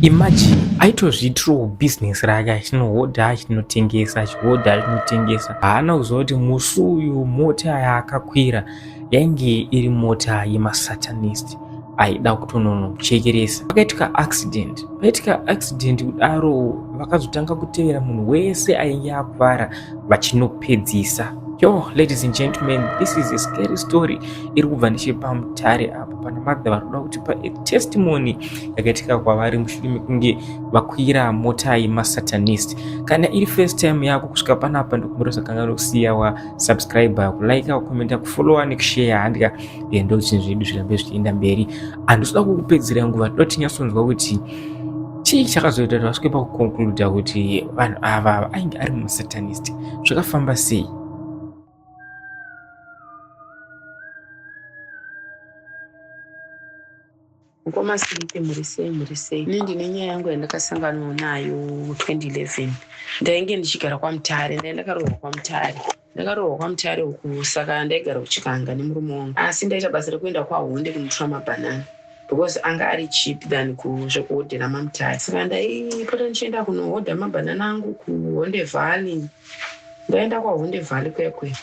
Imagine aitozviitirawo business rake achinohodha achinotengesa achihodha achinotengesa haana kuziva kuti musi uyu mota yaakakwira yainge iri mota yemasatanist aida kutononochekeresa pakaitika accident paitika accident kudaro vakazotanga kutevera munhu wese ainge akuvara vachinopedzisa yo ladies and gentlemen this is a scary story iri kubva nechepamutare apo pana madha vari kuda kuti pa testimony yakaitika kwavari mushure mekunge vakwira mota yemasatanist kana iri first time yako kusvika panapa ndokumurisa kanga nokusiya wa subscriber kulaika kukomenta kufollowa nekushare handika ndo zvinhu zvedu zvirambe zvichienda mberi handisida kukupedzera nguva toda kuti nyatsonzwa kuti chii chakazoita kuti vasvike pakukonkluda kuti vanhu ava ainge ari masatanist zvakafamba sei mukoma sirite mhuri sei mhuri sei ini ndine nyaya yangu yandakasanganwa nayo 2011 ndainge ndichigara kwamutare ndaindakarohwa kwamutare Ndakarohwa kwaMutare uku saka ndaigara kuChikanga nemurume wangu asi ndaita basa rekuenda kwaHonde kunotora mabhanana because anga ari cheap than zvekuhodhera maMutare saka ndaipota ndichienda kunohodha mabhanana angu kuHonde Valley. Ndaenda kwaHonde Valley kuya kuya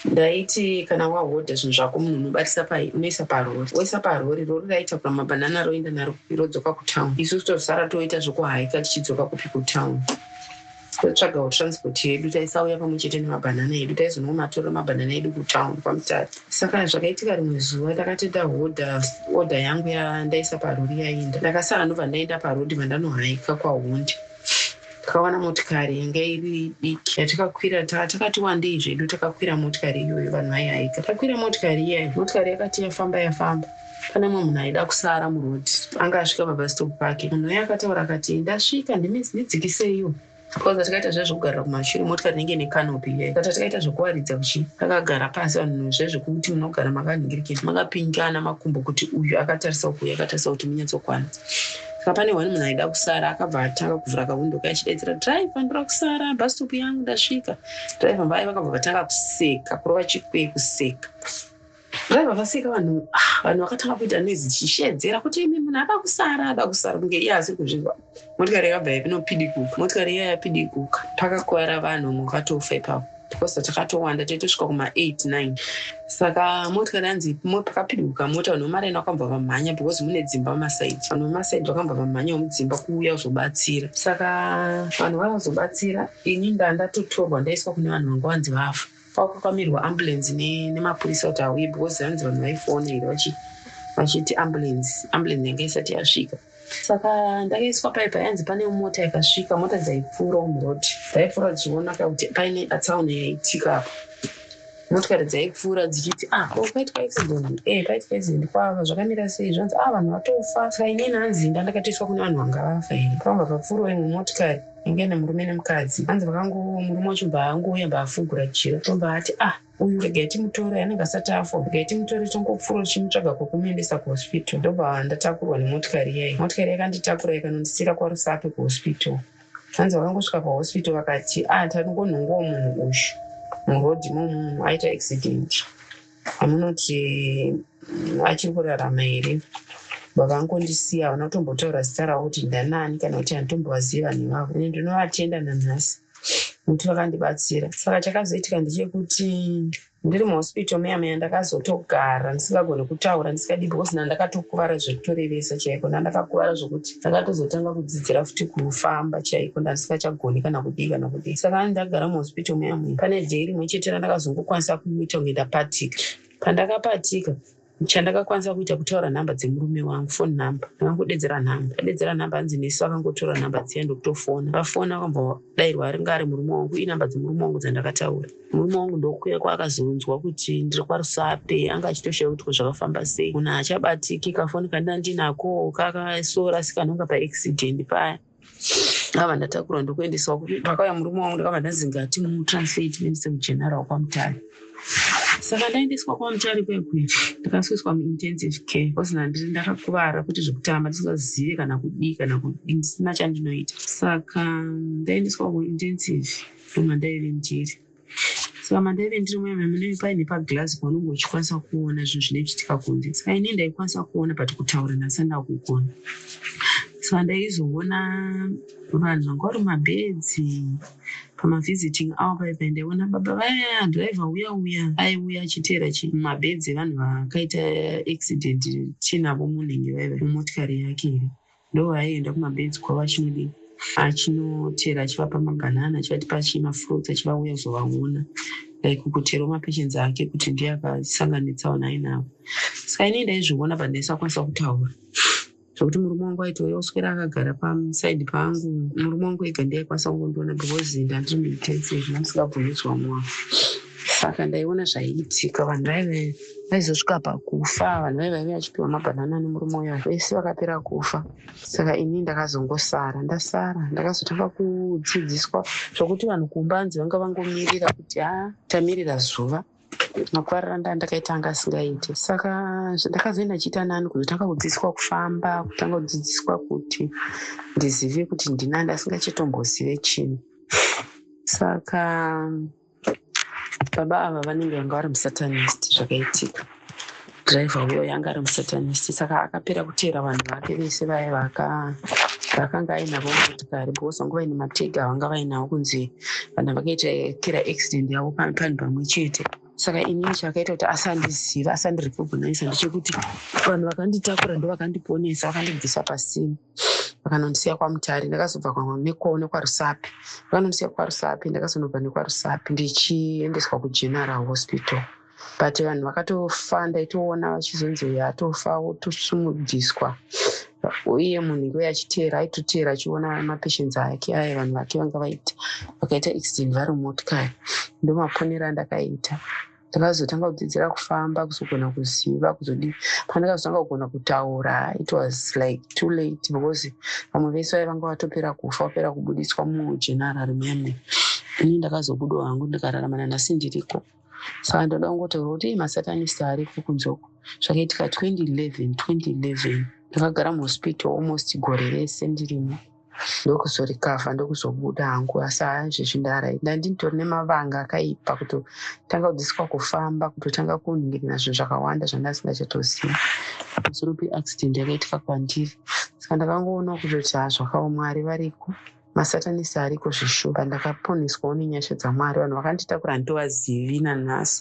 ndaiti kana wahodha zvinhu zvako munhu unobatisa pai unoisa parori woisa parori rori raitakura mabhanana roenda naro kupi rodzoka kutown isu tozosara toita zvekuhaika tichidzoka kupi kutown Totsvagawo transport yedu, taisauya pamwe chete nemabhanana edu, taizonomatora mabhanana edu kutown kwaMutati. Saka zvakaitika rimwe zuva takati ndahodha order yangu yandaisa parori yainda, ndakasa hanhu vandaenda paroad vandanohaika kwahondi takawana motikari yanga iri diki yatakakwira taa takati wandei zvedu takakwira motikari iyoyo vanhu vaihaika takwira motikari iyayo motikari yakati yafamba yafamba Pane mumwe munhu aida kusara muroad anga asvika pabus stop pake. Munhu uye akataura akati, ndasvika ndimi ndidzikiseiwo. Takaudza takaita zvezvekugarira kumashure motikari inenge ine canopy iyoyo. Tata takaita zvekuwaridza kuchi takagara pasi vanhu zvezvekuti munogara makanhingirikisa makapinjana makumbo kuti uyu akatarisa uku uyu akatarisa kuti munyatsokwana. Saka pane one munhu aida kusara akabva atanga kuvhura kawindo kaya achidaidzira driver ndoda kusara bus stop yangu ndasvika. Driver vaye vakabva vatanga kuseka kurova chikwe kuseka. Vaiva vaseka vanhu ah, vanhu vakatanga kuita noise tichishedzera kuti imi munhu ada kusara ada kusara kunge iye asi kuzvinzwa motikari yakabva yapinopidikuka motikari iya yapidikuka pakakuvara vanhu vamwe vakatofa ipapo because takatowanda taitosvika kuma8 9 saka motikari yanzi pakapidikuka mota vanhu vemaraini vakambva vamhanya because mune dzimba masaidi vanhu vemasaidi vakambva vamhanya vemudzimba kuuya kuzobatsira saka vanhu vavazobatsira ini ndandatotorwa ndaiswa kune vanhu vanga vanzi vafa kwakupamirwa ambulance nemapurisa kuti auye because hanzi vanhu vaifonera vachiti ambulance ambulance yanga isati yasvika saka ndakaiswa pai payanzi pane mota yakasvika mota dzaipfuura umrod dzaipfuura dzichiona ka kuti paine atsaona yaitika apo motikari dzaipfuura dzichiti ah oh, paitwa accident e eh, paitwa accident kwava zvakamira sei zvanzi ah vanhu vatofa saka inini hanzi ndandakatoiswa kune vanhu vanga vafa here pavanga papfuura imwe motikari inge nemurume nemukadzi hanzi vakango murume wacho mbaangouya mbaafugura jira tombaati ah uyu regai timutore anenge asati afa regai timutore tongopfuura tichimutsvaga kwekumuendesa kuhospital ndobva ndatakurwa nemotikari iyai motikari yakanditakura ikanondisiira kwarusape kuhospital hanzi vakangosvika pahospital vakati ah taringonhongowo munhu uyu murodhi momunhu aita accident amunoti achiri kurarama here vakangondisiya havana kutombotaura zita ravo kuti ndanani kana kuti handitombovaziva vanhu vavo ini ndinovatenda nanhasi kuti vakandibatsira saka chakazoitika ndechekuti ndiri muhospital meya meya ndakazotogara ndisingagoni kutaura ndisikadi because nandakatokuvara zvekutorevesa chaiko nandakakuvara zvekuti ndakatozotanga kudzidzira futi kufamba chaiko ndasingachagoni kana kudii kana kudii saka ani ndagara muhospital muyamwe pane day rimwe chete randakazongokwanisa kuita kunge ndapatika pandakapatika chandakakwanisa kuita kutaura nhamba dzemurume wangu fone number ndakangudedzera nhamba adedzera nhamba hanzi nesu akangotora nhamba dziya ndokutofona vafona akambodairwa aringa ari murume wangu inhamba dzemurume wangu dzandakataura Murume wangu ndokuya kwaakazonzwa kuti ndiri kwaRusape anga achitoshaya kuti ko zvakafamba sei. Munhu haachabatiki kafoni kandina ndinako kakasora sikanonga paaccident paya ndakabva ndatakurwa ndokuendeswa pakauya murume wangu ndakabva ndanzi ngati mutranslate mendise kugeneral kwamutare saka ndaendeswa kwamutare kwekwe ndakaswiswa muintensive care bcause nandiri ndakakuvara kuti zvekutamba ndisingazive kana kudii kana kudii ndisina chandinoita saka ndaendeswa kuintensive From and Island here. Saka manda ive ndiri muyana munenge paine paglass paunenge uchikwanisa kuona zvinhu zvine chitika kunze saka ini ndaikwanisa kuona but kutaura ndasanda kugona saka ndaizoona vanhu vanga vari mabedzi pamavisiting awo paipa ndaiona baba vaya driver uya uya aiuya achiteera mabedzi evanhu vakaita accident tinavo munenge vaiva mumotikari yake here Ndoo aienda kumabenzi kwavo achinodii achinochera achivapa mabanana achivatipa chii mafruits achivauya kuzovaona like kucherawo mapatience ake kuti ndiye akasanganitsawo nai navo saka inei ndaizviona but ndaisakwanisa kutaura zvekuti murume wangu aitouya kuswera akagara pasaidi pangu murume wangu ega ndiye aikwanisa kungondiona because ndandiri muintensive ndamusingabvumi zvamwavo saka ndaiona zvaiitika vanhu vaive vaizosvika pakufa vanhu vaive vaive vachipiwa mabhanana nemurume uya vese vakapera kufa saka ini ndakazongosara ndasara ndakazotanga kudzidziswa zvokuti vanhu kumba anzi vanga vangomirira kuti ha ah, tamirira zuva makwarira nda ndakaita anga asingaiti saka ndakazoenda chiita nani kuzotanga kudzidziswa kufamba kutanga kudzidziswa kuti ndizive kuti ndinani asingachitombozive chinhu saka baba ava vanenge vanga vari musatanist zvakaitika driver uyo yanga ari musatanist saka akapera kuteera vanhu vake vese vaye vakanga ainavo motikari because vanga vaine matega avanga vainavo kunzi vanhu vakaita kira accident yavo panhu pamwe chete saka ini chakaita kuti asandiziva asandirekognisa ndechekuti vanhu vakanditakura ndo vakandiponesa vakandibvisa pasina vakanondisiya kwamutare ndakazobva nekwarusapi vakanondisiya kwarusapi ndakazonobva nekwarusapi ndichiendeswa kugeneral hospital but vanhu vakatofa ndaitoona vachizonzi uyo atofa wotosumudziswa uye munhu iwe achiteera aitoteera achiona mapatients ake aye vanhu vake vanga vaita vakaita accident vari mumotikari ndomaponero andakaita ndakazotanga kudzidzira kufamba kuzogona kuziva kuzodii pandakazotanga kugona kutaura it was like too late because vamwe vese vaive vanga vatopera kufa vapera kubudiswa mujenarary meme ini ndakazobudo hangu ndikararama nanhasi ndiriko saka ndoda kungotaura kuti masatanist ariko kunzoko zvakaitika 2011 2011 ndakagara muhospital almost gore rese ndirimo ndokuzorikavha ndokuzobuda hangu asi haazvezvi ndarai ndandinitori nemavanga akaipa kutotanga kudziswa kufamba kutotanga kunhingirina zvinhu zvakawanda zvandasingachatozivi zoropi accident yakaitika kwandiri saka ndakangoona kutoti ha zvakaomwari variko masatanisi ariko zveshuwa ndakaponeswawo nenyasha dzamwari vanhu vakanditakura handivazivi nanhasi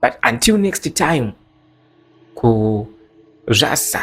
but until next time ku zvasa